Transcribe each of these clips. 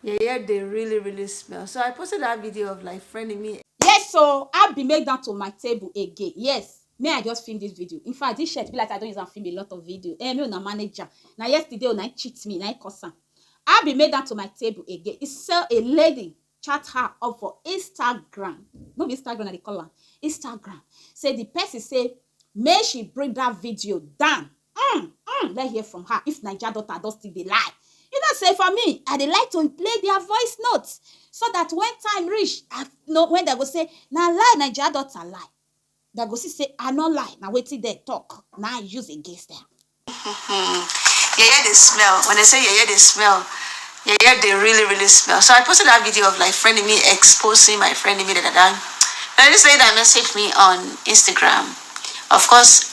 Yeye dey really really smell. So I posted that video of like friending me. Yes so I be make that to my table again. Yes me I just film this video. In fact this shirt be like I don use am film a lot of video. Eh me una manager. Na yesterday una cheat me na I cause am. I be make that to my table again. He sell a lady chat her up for Instagram. No be Instagram I dey call am. Instagram. Say the person say make she bring that video down mm mm let's hear from her if naija daughter don still dey lie you know say for me i dey like to play their voice note so that when time reach i know when dem go say na lie naija daughter lie dem go see say i no lie na wetin dem talk na i use against dem. yeye dey smell when they say yeye dey smell yeye dey really really smell so i posted that video of like friend me exposing my friend me da da da and this lady that messaged me on instagram of course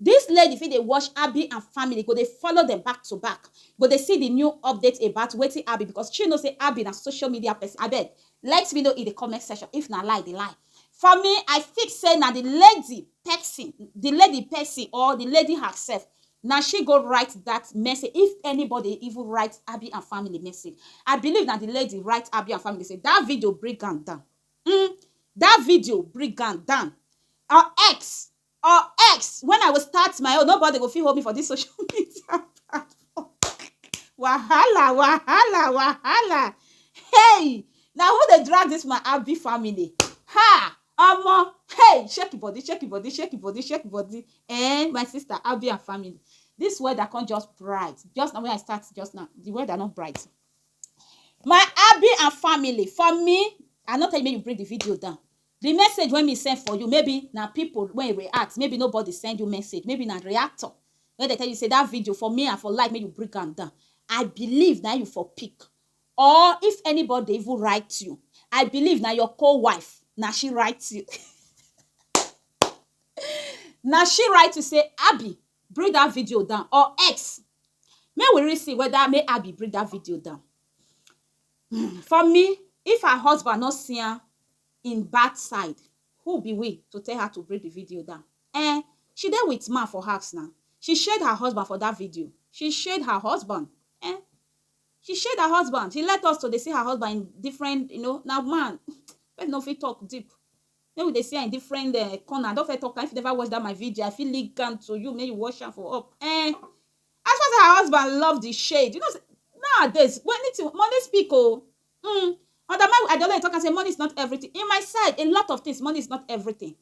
This lady fit dey watch Abi and family go dey follow dem back to back go dey see the new update about wetin Abi because she know say Abi na social media person abeg let me know in the comment section if na lie the lie for me I think say na the lady person the lady person or the lady herself na she go write that message if anybody even write Abi and family message I believe na the lady write Abi and family say that video bring am down um that video bring am down or X or X when I will start my own nobody go fit hold me for this social media wahala wahala wahala hey na who dey drag this my abi family ha omo hey shake body shake body shake body shake body eh my sister abi and family this weather come just bright just na when I start just now the weather no bright my abi and family for me I no tell you make you bring the video down Di message wey me send for you maybe na pipo wey react maybe nobody send you message maybe na reactor wey dem tell you say dat video for me I for like make you bring am down I believe na im you for pick or if anybody dey even write you I believe na your co wife na she write you na she write you say Abi bring dat video down or X make we really see weda make Abi bring dat video down. um for me if her husband no siyan him bad side who be we to tell her to bring the video down um she dey with man for house na she shade her husband for that video she shade her husband um she shade her husband she let us to dey see her husband in different you know na man person no fit talk deep make we dey see am in different um corner i don first talk am if you never watch that my video i fit link am to you make you watch am for up um As far say her husband love the shade, you know say nowadays when anything money speak o um under my I dey always talk am say money is not everything in my side a lot of things money is not everything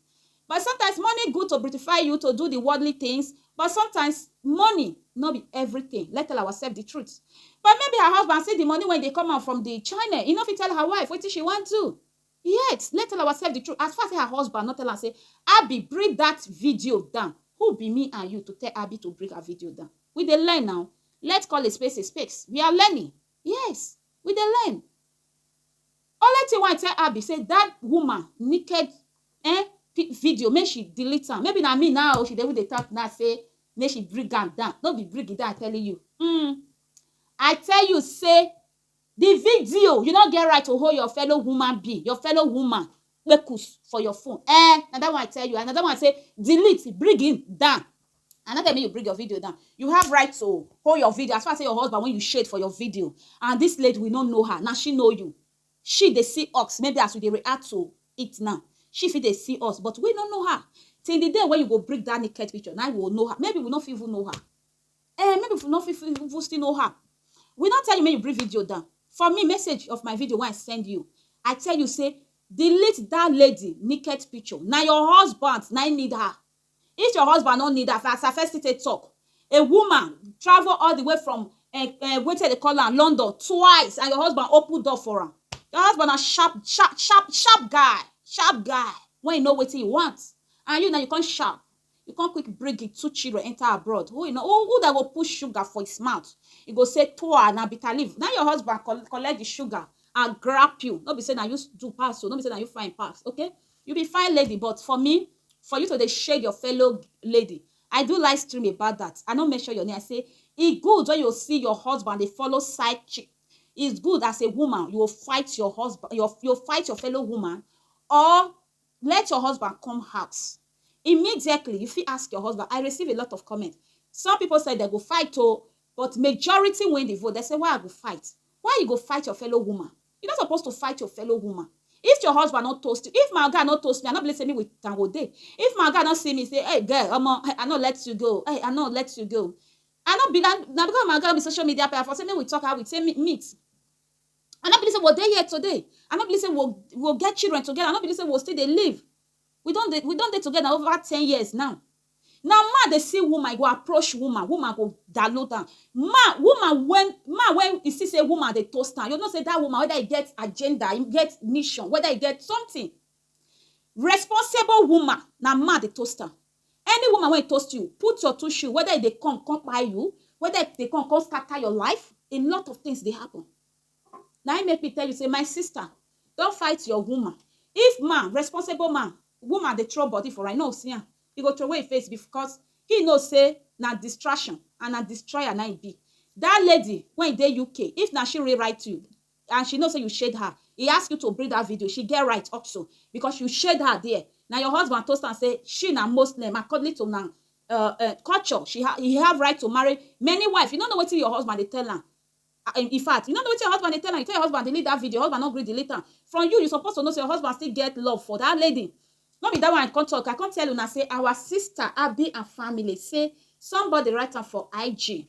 but sometimes money good to beautify you to do the worldly things but sometimes money no be everything let's tell ourselves the truth but maybe her husband see the money wey dey come out from the channel he no fit tell her wife wetin she wan do Yet, let's tell ourselves the truth, as far say her husband no tell am say, Abby, bring that video down, who be me and you to tell Abby to bring her video down? We dey learn now. Let's call a space a space. We are learning. Yes, we dey learn. Only thing wey I tell Abby say that woman naked eh, video, make she delete am. Maybe na me now o, she dey even dey talk now say make she bring am down. No be bring it down, I'm telling you. Mm. I tell you say Di video, you no get right to hold your fellow human being, your fellow woman, kpekus for your phone ehn, na dat one I tell you, and na dat one I say delete, bring him down, I no tell you make you bring your video down, you have right to hold your video as far as say your husband wey you shade for your video and dis lady we no know her, na she know you, she dey see us maybe as we dey react to it now, she fit dey see us but we no know her, till di day wey you go bring dat naked picture na im we go know her, maybe we no fit even know her. Eh, maybe if you no fit even still know her. We not tell you make you bring video down. For me, message of my video when I send you, I tell you say delete that lady naked picture. Now your husband now need her. If your husband don't need her, as I first take talk, a woman travel all the way from uh, eh, uh, eh, wait till they call her London twice, and your husband open door for her. Your husband a sharp, sharp, sharp, sharp guy, sharp guy. When you know what he wants, and you now you can't sharp. E come quick bring him two children enter abroad. Who e no who who that go put sugar for his mouth? E go say toa na bitter leaf. Na your husband col collect the sugar and grab you. No be say na you do pass o. No be say na you fine pass. Okay, you be fine lady but for me, for you to dey shade your fellow lady, I do live stream about that. I no mention your name. I say e good when you see your husband dey follow side chick. It's good as a woman you go fight your husband your you fight your fellow woman or Let your husband come house immediately you fit ask your husband I receive a lot of comment some people say dem go fight o but majority win the vote dem say why I go fight why you go fight your fellow woman you no suppose to fight your fellow woman if your husband no toast you if my oga no toast me I no believe say me with am go dey if my oga no see me say hey girl omo I no let you go hey I no let you go I no be na because my oga no be social media person I for say make we talk how we take meet. I no believe say we dey here today. I no believe say we we get children together. I no believe say we still dey live. We don dey we don dey together over ten years now. Na man dey see woman, e go approach woman, woman go download am. Man woman when man when e see say woman dey toast am, you go know say dat woman whether e get agenda, e get mission, whether e get something. Responsible woman, na man dey toast am. Any woman wey toast you, put your two shoe whether e dey come come kpai you, whether e dey come come scatter your life, a lot of things dey happen. Na im make me tell you say my sister, don fight your woman. If man, responsible man, woman dey throw body for am, e no go see am, e go throway im face because im know say na distraction and na destroyer na im e be. Dat lady wey e dey UK, if na she rewrite you, and she know say you shade her e ask you to bring that video she get right also because you shade her there na your husband toast am say she na muslim according to na uh, uh, culture she ha he have right to marry many wife you no know wetin your husband dey tell am Ah, in in fact you no know wetin your husband dey tell am you tell your husband delete that video your husband no gree delete am from you you suppose to know say your husband still get love for that lady no be that one i come talk i come tell una say our sister abi and family say somebody write am for ig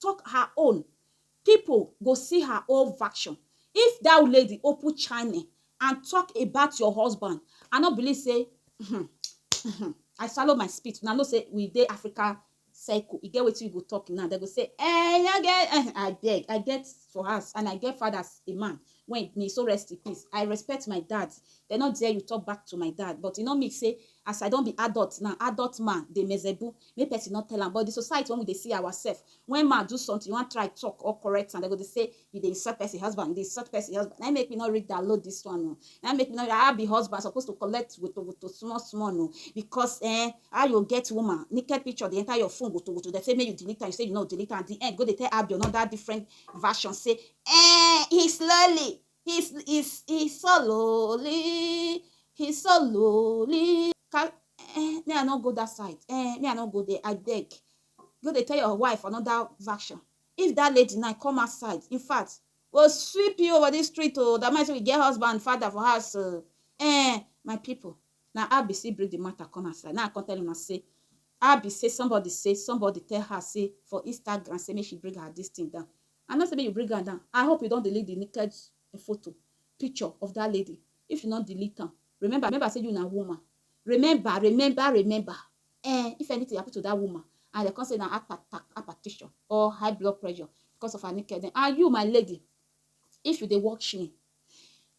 tok her own, pipo go see her own vaction. If dat lady open chine and tok about your husband, I no believe say uhmm uhmm I swallow my spit, una know say we dey Africa circle, e get wetin you go tok na, dem go say ehn I get ehn abeg I get for house and I get father as a man Wen me so rest in peace I respect my dad dem no dare you talk back to my dad but e no mean say as I don be adult now adult man dey mezebu make person no tell am but the society wen we dey see our self wen man do something you wan try talk or correct am dem go dey say you dey insult person husband you dey insult person husband na im make me no really download this one oo na im make me no I be husband I suppose to collect woto woto small small oo because eh how you get woman naked picture dey enter your phone woto woto dem say make you delete am you say you no go delete am at the end you go dey tell Abior another different version say eh he slowly he sl- he s- he slowly he slowly Ka- eh, me i no go that side eh, me i no go there i beg go dey tell your wife another version if that lady now come outside in fact go sweep you over this street o that man say we get husband father for house o eh my people Na I be say bring the matter come outside. Na I come tell una say I be say somebody say somebody tell her say for Instagram say make she bring her this thing down. I no say make you bring am down. I hope you don delete the naked photo, picture of that lady. If you no delete am, remember, remember say you na woman. Remember, remember, remember. Eh, if anything happen to that woman and they come say na heart attack, hypertension or high blood pressure because of her naked, and you, my lady, if you dey watch me,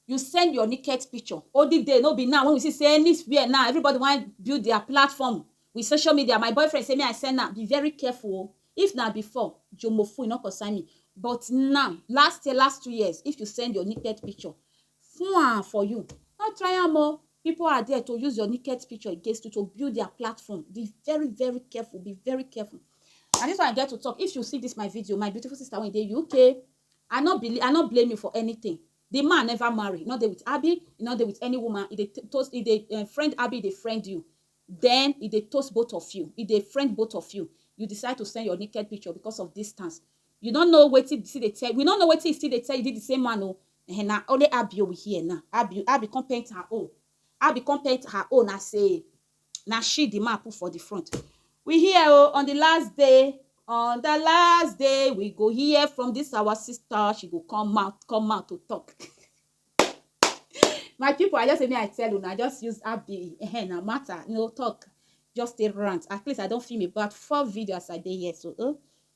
you send your naked picture olden day no be now when we see say anywhere now everybody wan build their platform with social media my boyfriend say me i send am be very careful o if na before jomofu e no concern me but now last year last two years if you send your naked picture fun for you no try am o people are there to use your naked picture against you to build their platform be very very careful be very careful and this one i get to talk if you see this my video my beautiful sister wey dey uk I no believe, I no blame you for anything, the man never marry, e no dey with Abi, e no dey with any woman, e dey toast, e dey um friend Abi, e dey friend you, then e dey toast both of you, e dey friend both of you, you decide to send your naked picture because of distance, you no know wetin he still dey tell, we no know wetin he still dey tell you, is it the same man o, um na only Abi we hear now, Abi, Abi come paint her own, Abi come paint her own as a na she the man put for the front we hear oh on the last day on the last day we go hear from this our sister she go come out come out to talk my people i just say me i tell una i just use app the eh, na matter no talk just a rant at least i don film about four videos i dey here so oh